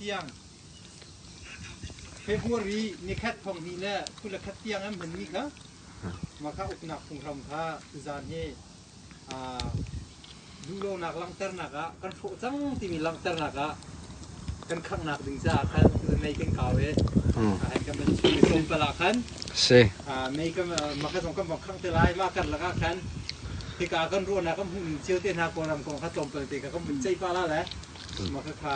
tiang February ni khat thong ni le thu le khat tiang an hman mi kha ma kha uknak phunghram kha zan he duhlonak langhternak ah kan hrawh cang timi langhternak ah kan khanghnak ding caah khan tutan mei kan kau i hmm. ahan kan van chim tlawmpal ah khan si mei kan mah kan kan van khang te lai ma kar lak ah khan hika kan ruahnak kan hmuh cio te hna kong ram kong kha tlawmpal te ka kan van ceih pa la le mah ka kha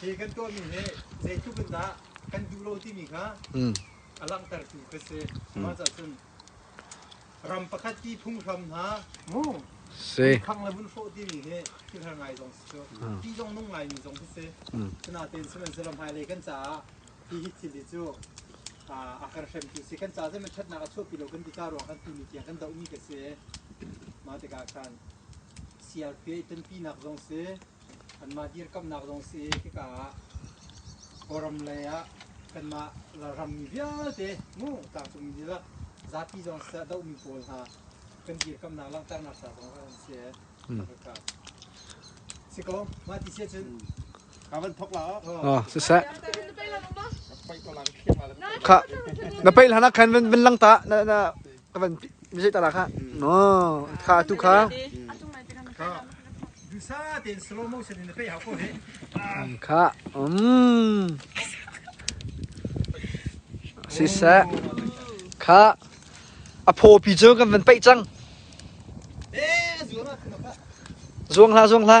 Hi kan tuahmi nih zeitluk in dah kan duh lo timi kha a langhtertu ka si. Mah cun ram pakhat ti phunghram hna si khang le vun hrawh timi hi thil har ngai zong si cu ti zong nung ngaimi zong khi si sinatein sihmanhsehlaw hmailei kan caah hi hi thil hi cu a har hremtu si kan caah zeihmanh ṭhatnak a chuahpi lo kan ti ca ruang khan tuni tiang kan dohmi ka si mah tikah khan CRPH ṭanpinak zong si Kanmah dirkamhnak zong a si i hika ah Kawlram lei ah kanmah ralrammi vialte mu tlangcungmi dihlak zapi zong siseh a dohmi pawl hna kan dirkamhnak langhternak ca zong an si ee kan rak kaa. Si ko, mah ti siah cun Ka van thok la oh. siseh kha na peih hlanah khan van van lang ta na na ka van mizei ta kha no kha tu kha kha um siseh kha a phopi cu kan van paih cang zuang hla zuang hla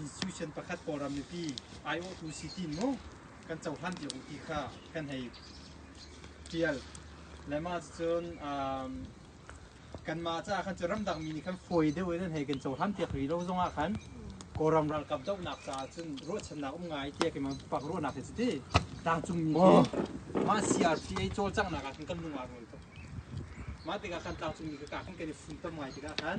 institution pakhat Kawlram mipi aiawhtu si ti mu kan cohlan piak u ti kha kan hei tial lemah cun kanmah caah khan cu ramdang mi nih khan fawi deuh in hei kan cohlan piak rih lo zongah khan Kawlram ralkap dohnak caah cun ruahchannak um ngai tiah keimah pak ruahnak hi cu ti tlangcung mi khi mah CRTA cawlcanghnak ah khan kan lung aa rul tuk mah tikah khan tlangcung mi ka kah khan kan i funtom ngai tikah khan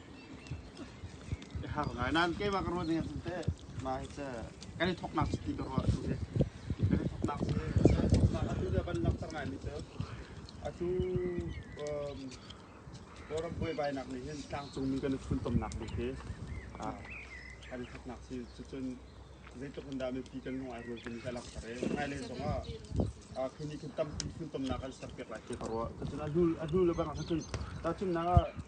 Kan i thawknak cu ti ka ruah a tu hi. Kan i thawknak cu atu le van langhter ngaimi cu atu Kawlram buaibainak nih hin tlangcungmi kan i funtomnak bik hi kan i thawknak si cucun zeitluk in dah mipi kan lung ai rual timi ka langhter i hmailei zongah khi nih khin tampi funtomnak an serpiak lai ti ka ruah. Cucun a hnu le bang ah cun tahchunhnak ah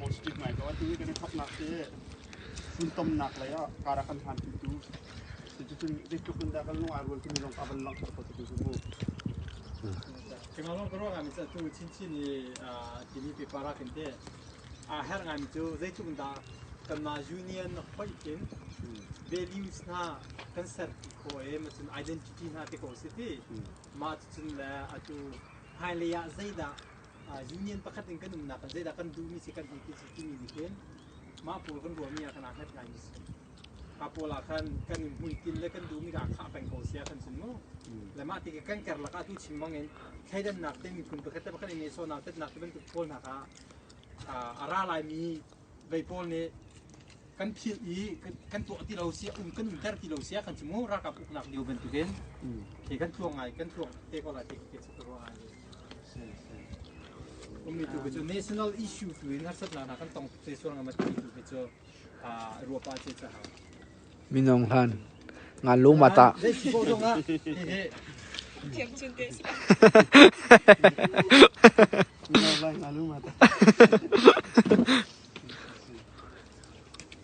positive ngai ko. Hihi kan i thoknak hi funtomnak lei ah kara kan hanpitu cuticun zeitluk in dah kan lung aa rual timi zong kha van langhter positive cu mu. Kemangong ka ruah ngami cu tu chinchin i timi paper ah kan te a her ngami cu zeitluk in dah kanmah union hoih in values hna kan ser ti kho e ma cun identity hna te ko si ti ma cun le atu hmailei ah zeidah union pakhat in kan umnak ah zeidah kan duhmi si kan ei ti si timi nih hin mah pawl kan ruahmi ah khan aa hngat ngaimi si ka pawl ah khan kan hmuitinh le kan duhmi dah khah peng ko sia kan sun mu le mah ti kan ker lakah tu chim bangin thleidannak te miphun pakhat te pakhat i nehsawnak tatnak te bantuk pawl hna kha a ra laimi vei pawl nih kan philh i kan tuah ti lo sia um kan der ti lo sia kan chim mu ralkap uknak lio bantuk in hi kan thluang ngai kan thluang te ko lai te ke chu ruang ngai ummi tu cu national issue tu in harsatnak kan tong te sual ngam ti tu cu ruapa ce ca Minung hlan ngan lu ma tah?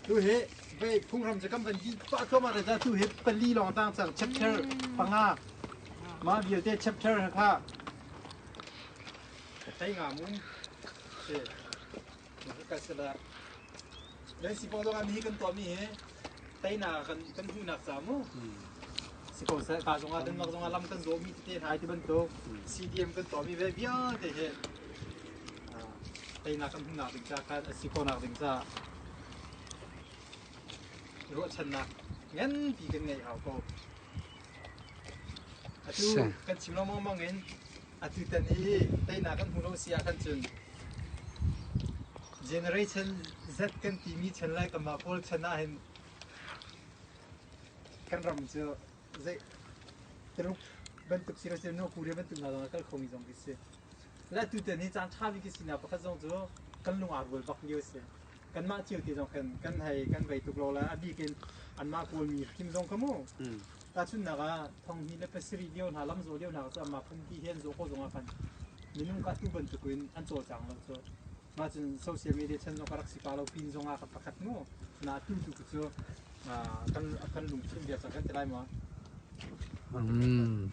Tu he pe phungram cha kam pan ki pa thoma ka ta tu he pali long tang chak chapter panga ma bia te chapter ha kha tai nga mun se Lei sipaw zong ah mi kan tuahmi hi teinak kan kan hmuhnak ca mu si ko seh ka zong ah Denmark zong ah lam kan zawmi tete hna ti bantuk CDM kan tuahmi ve vialte hi teinak kan hmuhnak ding ca kan si khawhnak ding ca ruahchannak nganpi kan ngei hau ko atu kan chim lengmang in Atutan i teinak kan hmu lo si ah khan cun generation Z kan timi chan lai kanmah pawl chan ah hin kan ram cu zei Taruk bantuk si rasi no Korea bantuk nga langa kal khomi zong khi si. Le tutan hi caan ṭha bik khi sinak pakhat zong cu kan lung aa rual bak lio a si. kanmah cio te zong khan kan hei kan vei tuk lo la a bik in anmah kawlmi hrim zong kha mu tahchunnak ah thonghni le pasarih lio hna lamzaw lio hna cu amah phunti hen zaw ko zongah khan minung kha tu bantukin an cawlcang lo cu mah cun social media chan zong ka rak si pa lo pin zongah ka pakhat mu na tu tu cu kan kan lungthin bia kan ti lai maw Mm.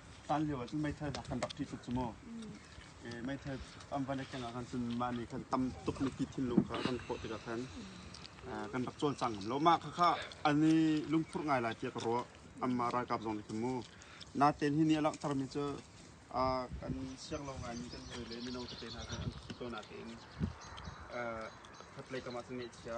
Tan lio ahcun meithal hna kan rak ṭih tuk cu mu. I meithal an van i keng ah khan cun mah nih khan tam tuk mipi thinlung kha kan hrawh tikah khan uh, kan rak cawl cang ngam lo. Mah kha kha an i lungphurh ngai lai tiah ka ruah. Anmah ralkap zong nih khan mu. Natein hi nih a langhtermi cu uh, kan siang lo ngaimi kan hawi le mino tete hna kha an thi ko natein uh, khatlei kam ah cun ngaihchia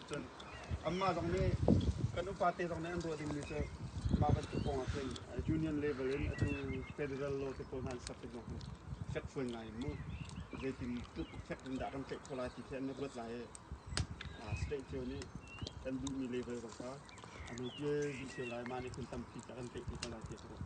Cun anmah zong nih kan upate zong nih an ruah dingmi cu mah bantuk kong ahcun union level in atu federal law te pawl hna an ser tik zong fekfuan ngai in mu zeitin tluk fek in dah kan tlaih khawh lai ti khi an ruat lai i state cio nih kan duhmi level zong kha a nopi dih cio lai mah nih kun tampi ta kan tlaih ko lai ti ka ruat.